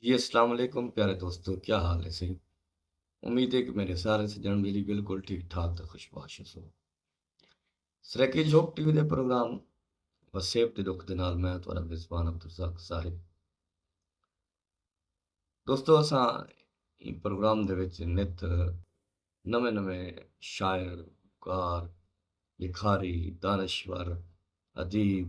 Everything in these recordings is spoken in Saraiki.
جی اسلام علیکم پیارے دوستو کیا حال ہے سہی امید ہے کہ میرے سارے سجن ویلی بالکل ٹھیک ٹھاک تے خوشباش ہو سرکی جھوک ٹی وی دے پروگرام وسیب دے رخ دے نال میں تہاڈا میزبان عبدالرزاق صاحب دوستو اساں این پروگرام دے وچ نت نویں نویں شاعر کار لکھاری دانشور ادیب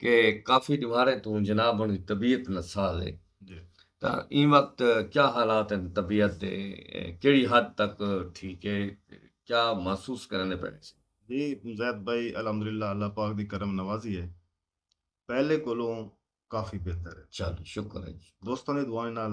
کہ کافی ڈوہاریں توں جناب ہنڑی طبیعت نساز ہے تاں ایں وقت کیا حالات ہن طبیعت دے کیڑی حد تک ٹھیک ہے کیا محسوس کریندے پئے ہسے۔ جی زید بھائی الحمدللہ اللہ پاک دی کرم نوازی ہے پہلے کولوں کافی بہتر ہے۔ چلو شکر ہے جی۔ دوستاں دی دعائیں نال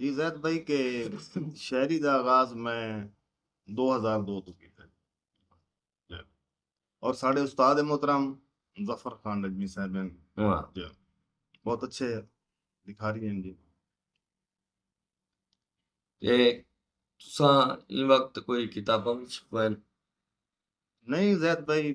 جی زید بھائی کے شاعری دا آغاز میں دو ہزار دو تو کیتا جی۔ اور ساڑھے استاد محترم ظفر خان نجمی صاحب ہیں جی۔ بہت اچھے لکھاری ہیں جی تے تساں ایں وقت کوئی کتاباں وچ پڑھن نہیں زید بھائی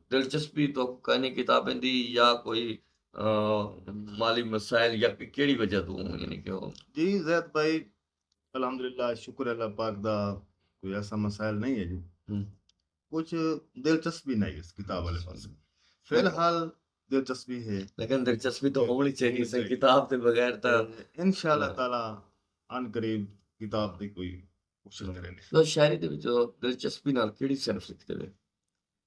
دلچسپی تہاکوں کائنی کتابیں دی یا کوئی مالی مسائل یا کیڑی وجہ توں یعنی کہ جی زید بھائی الحمدللہ شکر اللہ پاک دا کوئی ایسا مسائل نہیں ہے جی کچھ دلچسپی نہیں اس کتاب والے پاس فی الحال دلچسپی ہے لیکن دلچسپی تو ہونی چاہیے سر کتاب کے بغیر تو انشاءاللہ ہاں۔ تعالی ان قریب کتاب دی کوئی کوشش کریں گے شاعری دے وچ دلچسپی نال کیڑی صنف لکھتے ہیں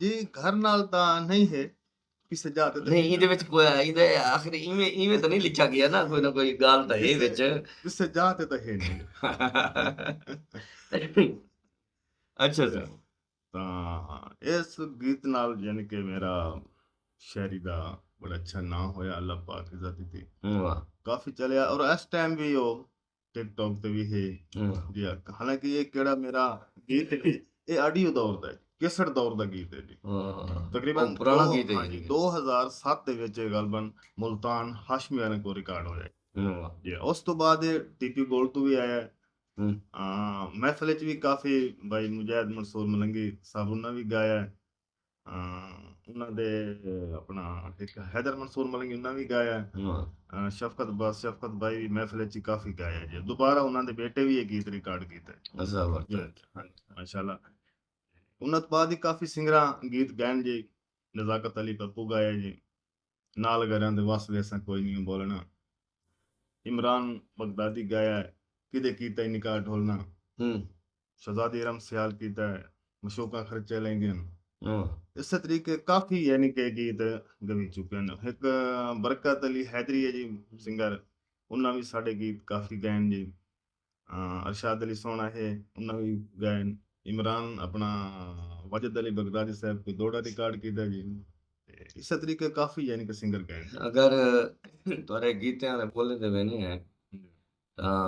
جی گھر نال دا نہیں ہے کسے جا تے نہیں ایندے وچ کوئی ایندے آخر ایویں ایویں تو نہیں لکھا گیا نا کوئی نہ کوئی گال تہ ہے وچ کسے جا تے تہ ہے نہیں اچھا سر تا اس گیت نال یعنی کہ میرا شاعری دا بڑا اچھا نام ہویا اللہ پاک عزت دیتی کافی چلیا اور اس ٹائم بھی وہ ٹک ٹاک تے وی ہے جی حالانکہ یہ کیڑا میرا گیت ہے یہ آڈیو دور دا ہے کیسٹ دور دا گیت ہے جی تقریبا پرانا گیت ہے جی 2007 دے وچ غالبا ملتان ہاشمی والے کو ریکارڈ ہویا جی اس تو بعد ٹی پی گولڈ تو بھی آیا ہے محفل وچ بھی کافی بھائی مجاہد منصور ملنگی صاحب انہاں بھی گایا ہے انہاں دے اپنا ہک حیدر منصور ملنگی انہاں بھی گایا ہے شفقت با شفقت بائی بھی محفل چی کافی گایا ہے دوبارہ انہاں دے بیٹے بھی ایک گیت ریکارڈ کیتا ہے ماشاءاللہ انہاں دے بعد ہی کافی سنگراں گیت گائن جی نزاکت علی پپو گایا جی نال گریاں دے وس ویساں کوئی نی ہوں بولنا عمران بغدادی گایا ہے کدے کیتا ای نکاح ڈھولنا شہزادی ارم سیال کیتا ہے مشوقاں خرچے لیندین اسے طریقے کافی یعنی کہ گیت گوی چکے نے ہک برکت علی حیدری ہے جی سنگر انہاں وی ساڈے گیت کافی گائن جی ارشاد علی سوہݨا ہے انہاں وی ڳائن۔ عمران اپݨا واجد علی بغدادی صاحب کوں دوہڑا ریکارڈ کیتا جی تے اسے طریقے کافی یعنی کہ سنگر ڳائن۔ اگر تہاݙے گیتیاں دے ٻولیں تے ویندے ہیں تاں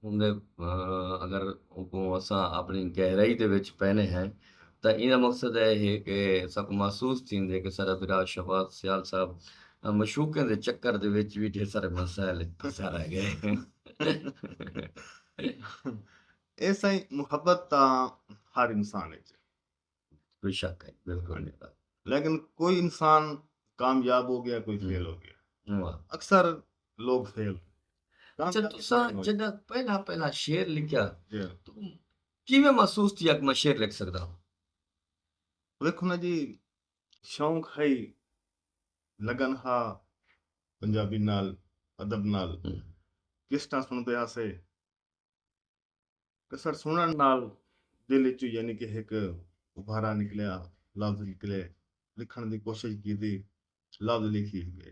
اوندے اگر اوکوں اساں اپݨی گہرائی دے وچ پیندے ہیں تاں ایندا مقصد اے ہے کہ اساکوں محسوس تھیندے کہ ساݙا بھرا شہباز سیال صاحب معشوقیں دے چکر دے وچ وی ڈھیر سارے مسائل پھسا رہ ڳئے۔ اے سائیں محبت تاں ہر انسان اچ ہے۔ بے شک ہے بالکل۔ لیکن کوئی انسان کامیاب ہو گیا کوئی فیل ہو گیا۔ اکثر لوگ فیل ہو گئے۔ اچھا تساں جدوں پہلا پہلا شعر لکھیا تو کیویں محسوس تھیا کہ میں شعر لکھ سکدا ہاں؟ ویکھو نا جی شوق ہئی لگن ہا پنجابی نال ادب نال کیسٹاں سنڑدے ہاسے کسر سنڑن نال دل اچوں یعنی کہ ہک ابھارا نکلیا لفظ نکلے لکھن دی کوشش کیتی لفظ لکھی گئے۔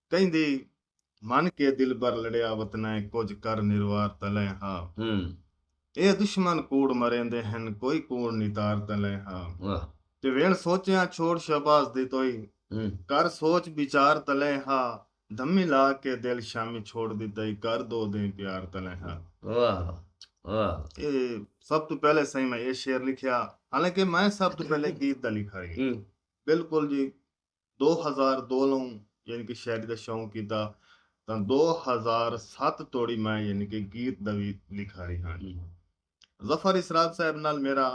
کیندی من کے دلبر لڑیا وتنیں کجھ کر نروار تلیں ہا ایہ دشمن کوڑ مریندے ہن کوئی کوڑ نتار تلیں ہا تے ویݨ سوچیاں چھوڑ شہباز دی توئی کر سوچ وچار تلیں ہا دھمی لا کے دل شامی چھوڑ ݙتئی کر دو دیں پیار تلیں ہا ایہ سب توں پہلے سئیں میں ایہ شعر لکھیا حالانکہ میں سب توں پہلے گیت دا لکھاری ہاں بالکل جی دو ہزار دو لوں یعنی کہ شاعری دا شوق کیتا تاں دو ہزار ست توڑی میں یعنی کہ گیت دا وی لکھاری ہاں۔ ظفر اسرار صاحب نال میرا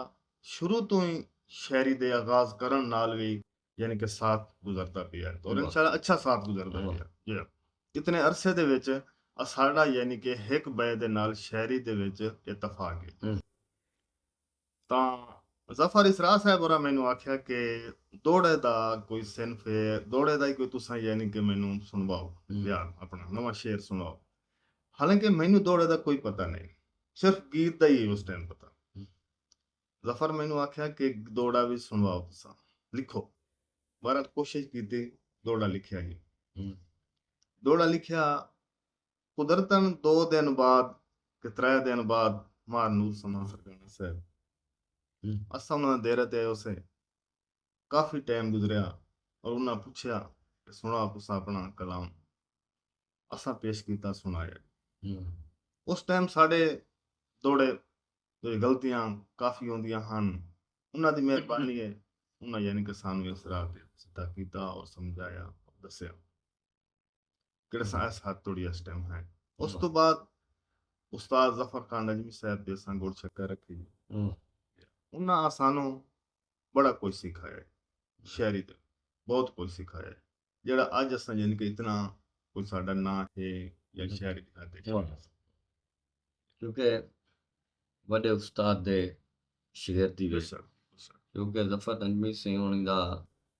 شروع توں ہی شاعری دے آغاز کرݨ نال وی یعنی کہ ساتھ گزردا پیا ہے اور انشاءاللہ اچھا ساتھ گزردا پیا ہے۔ اتنے عرصے دے وچ اساݙا یعنی کہ ہک ٻئے دے نال شاعری دے وچ اتفاق ہے۔ تاں ظفر اسرار صاحب ہوراں مینوں آکھیا کہ دوڑے دا کوئی صنف ہے دوڑے دا ہی کوئی تساں یعنی کہ مینوں سنواؤ یا اپنا نواں شعر سنواؤ حالانکہ مینوں دوڑے دا کوئی پتہ نہیں صرف گیت دا ہی اس ٹائم پتہ ظفر مینوں آکھیا کہ دوڑا وی سنواؤ تساں لکھو بہرحال کوشش کیتی دوڑا لکھیا ہی دوڑا لکھیا قدرتن دو دن بعد تے ترے دن بعد مار نور سما سرکانا صاحب اساں انہاں دے دیرہ تے ایوسے کافی ٹائم گزریا اور انہاں پچھیا کہ سنڑا تساں اپنا کلام اساں پیش کیتا سنڑایا اس ٹائم ساڈے دوڑے جو غلطیاں کافی ہوندیاں ہن انہاں دی مہربانی ہے انہاں یعنی کہ سانوی اس راہ تے سدھا کیتا اور سمجھایا اور دسیا کیڑے سائے ساتھ توڑی اس ٹائم ہے اس تو بعد استاد ظفر خان نجمی صاحب دے سان گوڑ چکر رکھے جی انہاں آسانوں بڑا کوئی سکھایا ہے شہری دے بہت کوئی سکھایا ہے جڑا آج اساں جن یعنی کے اتنا کوئی ساڑھا نہ ہے یا شہری دے ناتے کیونکہ بڑے استاد دے شہر دی ویسا کیونکہ ظفر نجمی سے انہاں دا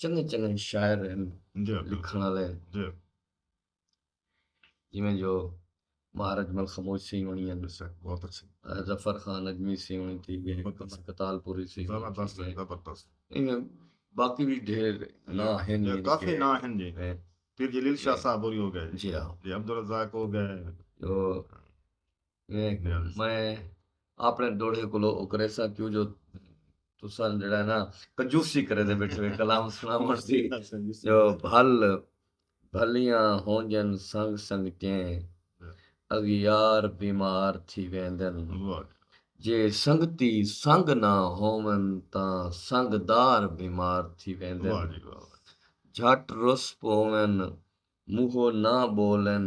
چنگے چنگے شاعر ہن لکھن والے ہن جویں جو مہارج مل خموج سی ہونی ہے بہت اچھے ظفر خان اجمی سی ہونی تھی گئے کتال پوری سی زبردست زبردست باقی بھی ڈھیر نا ہن کافی نا ہن جی پھر جلیل شاہ صاحب ہوری ہو گئے جی ہاں جی عبدالرزاق ہو گئے جو میں اپݨے ݙوہڑے کولو او کریساں کیوں جو تساں جیڑھا ہے نا کنجوسی کرے دے بیٹھے وے کلام سݨاوݨ دی جو بھل بھلیاں ہونجن سنگ سنگ چیں اغیار بیمار تھی ویندن جے سنگتی سنگ نہ ہوون تاں سنگ دار بیمار تھی ویندن جھٹ رس پوون منہو نہ ٻولن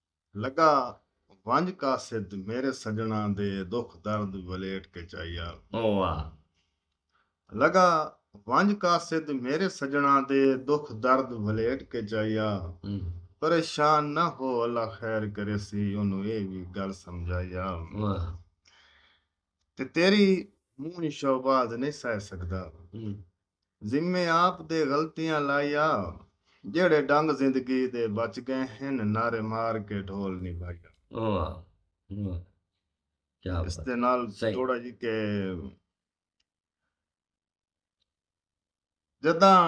لگا ونج قاصد میرے سجناں دے دکھ درد ولیٹ کے چائیال۔ اوہ آ۔ لگا ونج قاصد میرے سجناں دے دکھ درد ولیٹ کے چائیال۔ پریشان نہ ہو اللہ خیر کریسی اونوں ایہ وی گل سمجھائیال۔ واہ۔ تے تیری منہ شہباز نئیں سہہ سگدا۔ ذمے آپ دے غلطیاں لائیا جیڑھے ڈنگ زندگی دے بچ گئے ہن نعرے مار کے ڈھول نی بھائیا۔ اس دے نال جوڑا جی کہ جداں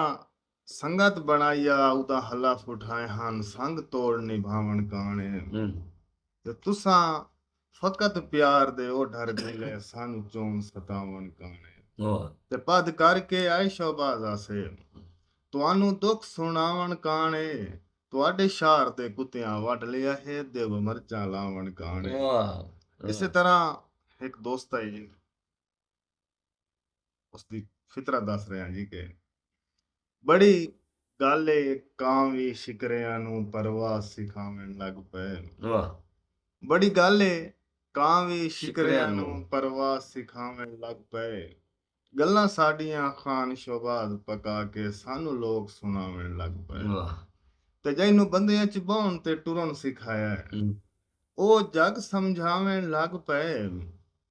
سنگت بنائیا ادا حلف اٹھائے ہن سنگ توڑ نی بھاون کانے تے تساں فقط پیار دے او ڈھر ڈھیلے سن جون ستاون کانے تے پدھ کر کے عیش و باز آسے تہانوں دکھ سنڑاون کانے تہاڈے شار دے کتیاں وڈھ لیا ہے دیو مرچاں لاون کانے اسے طرح ہک دوست آئی اس دی فطرت دس رہے ہیں جی کہ بڑی گل ہے کاں وی شکریاں نو پرواز سکھاون لگ پے بڑی گل ہے کاں وی شکریاں نو پرواز سکھاون لگ پے گلاں ساڈیاں خان شوباز پکا کے سانو لوک سناون لگ پے تے جینوں بندیاں چ بہن تے ٹرن سکھایا او جگ سمجھاون لگ پے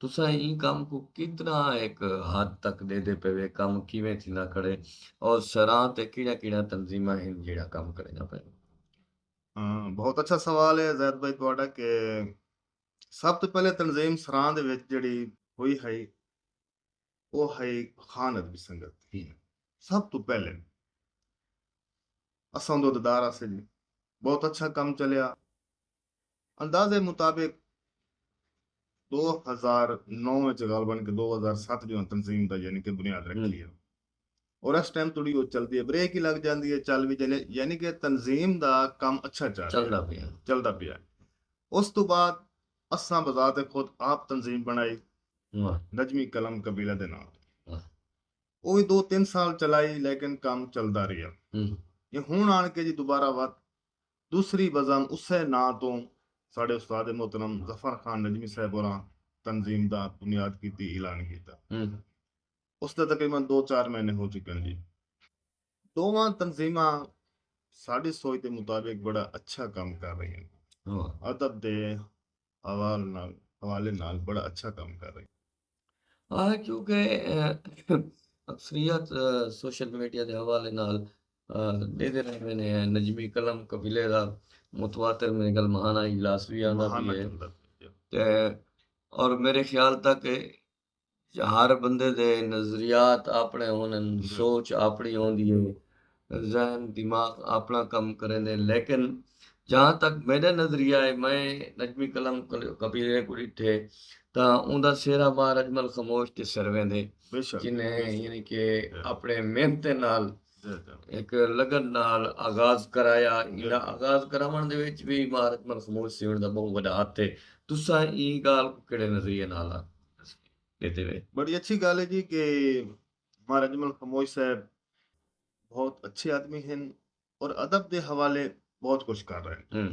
تساں ایں کم کوں کتنا ہک حد تک ڈیدے پئے وے کم کیویں تھیندا کھڑے اور سراں تے کیڑیاں کیڑیاں تنظیماں ہن جیڑھا کم کرینداں پئے وے۔ بہت اچھا سوال ہے زید بھائی تہاڈا کہ سب توں پہلے تنظیم سراں دے وچ جیڑھی ہوئی ہئی او ہئی خان ادبی سنگت سب توں پہلے اساں اوندے عہدیدار ہاسے جی بہت اچھا کم چلیا اندازے مطابق ݙو ہزار نو وچ غالبا کہ ݙو ہزار ست جو تنظیم دا یعنی کہ بنیاد رکھی ہے اور اس ٹائم توڑی وہ چلدی ہے بریک ہی لگ جاندی ہے چل بھی جاندی ہے یعنی کہ تنظیم دا کم اچھا چل چلدا پیا چلدا پیا اس تو بعد اساں بذات خود آپ تنظیم بنائی نجمی قلم قبیلہ دے نام او وی دو تین سال چلائی لیکن کم چلدا رہیا یہ ہن آن کے جی دوبارہ وقت دوسری بزم اسے ناں توں ساڈے استاد محترم ظفر خان نجمی صاحب ہوراں تنظیم دا بنیاد کیتی اعلان کیتا۔ اس دے تقریبا دو چار مہینے ہو چکن جی۔ ڈوواں تنظیماں ساڈی سوچ دے مطابق بڑا اچھا کم کر رہیاں۔ ادب دے حوالے نال بڑا اچھا کم کر رہی ہے کیونکہ اکثریت سوشل میڈیا دے حوالے نال ڈیدے رہندے نے نجمی قلم قبیلے دا متواتر میرے گل مہانہ اجلاس بھی آندا پیا ہے اور میرے خیال تک ہر بندے دے نظریات اپنے ہوندن، سوچ اپنی ہوندی ہے، ذہن دماغ اپنا کم کریندے لیکن جہاں تک میڈا نظریہ ہے میں نجمی قلم کبیرے کو ڈٹھے تا اوندا سہرا بار اجمل خموش تے سر ویندے جنہیں یعنی کہ اپنے محنت نال ہک لگن نال آغاز کرایا ایندا آغاز کراوݨ دے وچ وی ماں رقمل خموش سیوݨ دا ٻہوں وݙا ہتھ ہے تساں ایں ڳالھ کوں کیڑھے نظریے نال ݙیندے وے۔ بڑی اچھی گالھ ہے جی کہ ماں رجمل خموش صاحب بہت اچھے آدمی ہن اور ادب دے حوالے بہت کچھ کر رہے ہیں۔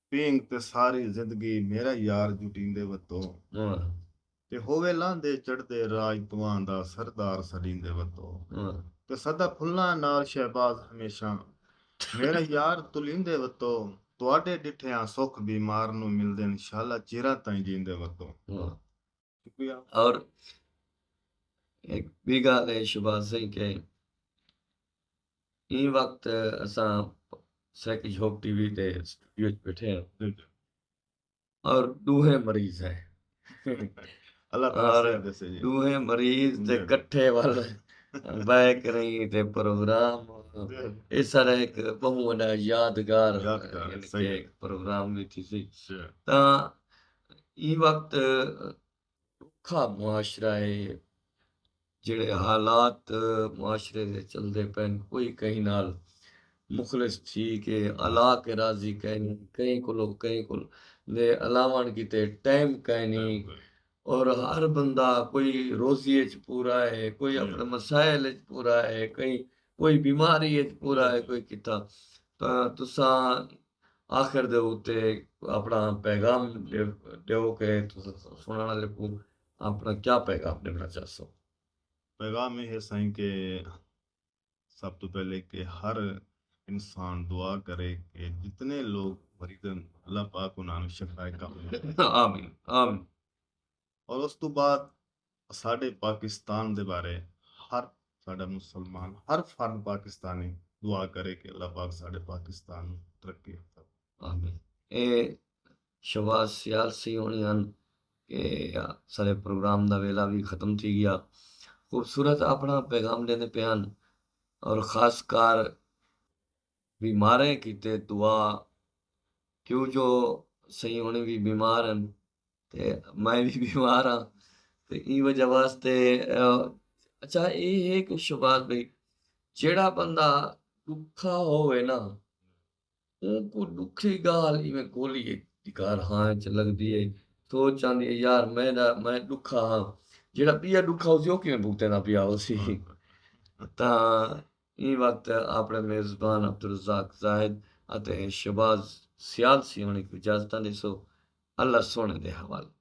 پینگ تے ساری زندگی میرا یار جٹیندے وتو تے ہووے لاندے چڑھدے راج تواں دا سردار سڈیندے وتو تے سدا پھلاں نال شہباز ہمیشاں میرا یار تلیندے وتو تواڈے ڈٹھے آں سکھ بیمار نو ملدن شالا چیراں تائیں جیندے وتو۔ اور ہک ٻی ڳالھ اے شہباز سئیں کہ ایں وقت اساں سیکھ جھوک ٹی وی تے اسٹوڈیو اچ بیٹھے ہیں اور ݙوہیں مریض ہیں اور ݙوہیں مریض تے کٹھے ول بہہ کریں تے پروگرام اے سارا ہک ٻہوں وݙا یادگار پروگرام وی تھیسی تاں ایں وقت ڈوکھا معاشرہ ہے جیڑے حالات معاشرے دے چلدے پین کوئی کہیں نال مخلص تھی کے الا کے راضی کہیں نی کہیں کولو کہیں کول دے الاون کیتے ٹائم کہیں نی اور ہر بندہ کوئی روزی اچ پورا ہے کوئی اپنے مسائل اچ پورا ہے کہیں کوئی بیماری اچ پورا ہے کوئی کتا تاں تساں آخر دے اتے اپنا پیغام ڈیو کہ سنڑن آلے کوں اپنا کیا پیغام ڈیونا چاہسو۔ پیغام اے ہے سائیں کہ سب توں پہلے کہ ہر انسان دعا کرے کہ جتنے لوگ مریض ہیں اللہ پاک انہاں نوں شفائے کامل عطا فرمائے۔ آمین آمین۔ اور اس توں بعد اساڈے پاکستان دے بارے ہر ساڈا مسلمان ہر فرد پاکستانی دعا کرے کہ اللہ پاک ساڈے پاکستان نو ترقی یافتہ بنائے۔ آمین۔ اے شہباز سیال سی ہونی ہن کہ اساڈے پروگرام دا ویلا وی ختم تھی گیا۔ خوبصورت اپنا پیغام ڈیندے پئے ہن اور خاص کر بیماریں کیتے دعا کیوں جو سی ہونی وی بیمار ہن۔ تے میں وی بیمار ہاں تے ایں وجہ واسطے اچھا اے ہے کہ شباز بھائی جیڑا بندہ ڈکھا ہوئے نا اوں کو ڈکھی گال ایویں کولی ہے دکار ہاں اچ لگ دی ہے سوچ آندی ہے یار میں دا میں ڈکھا ہاں جیڑا پیا ڈکھا ہو سی او کیویں بھگتے نا پیا ہو سی تاں ایں وقت آپݨے میزبان عبدالرزاق زاہد اتے شہباز سیال سیوݨی کوں اجازتاں ݙیسو، اللہ سوہݨے دے حوالے۔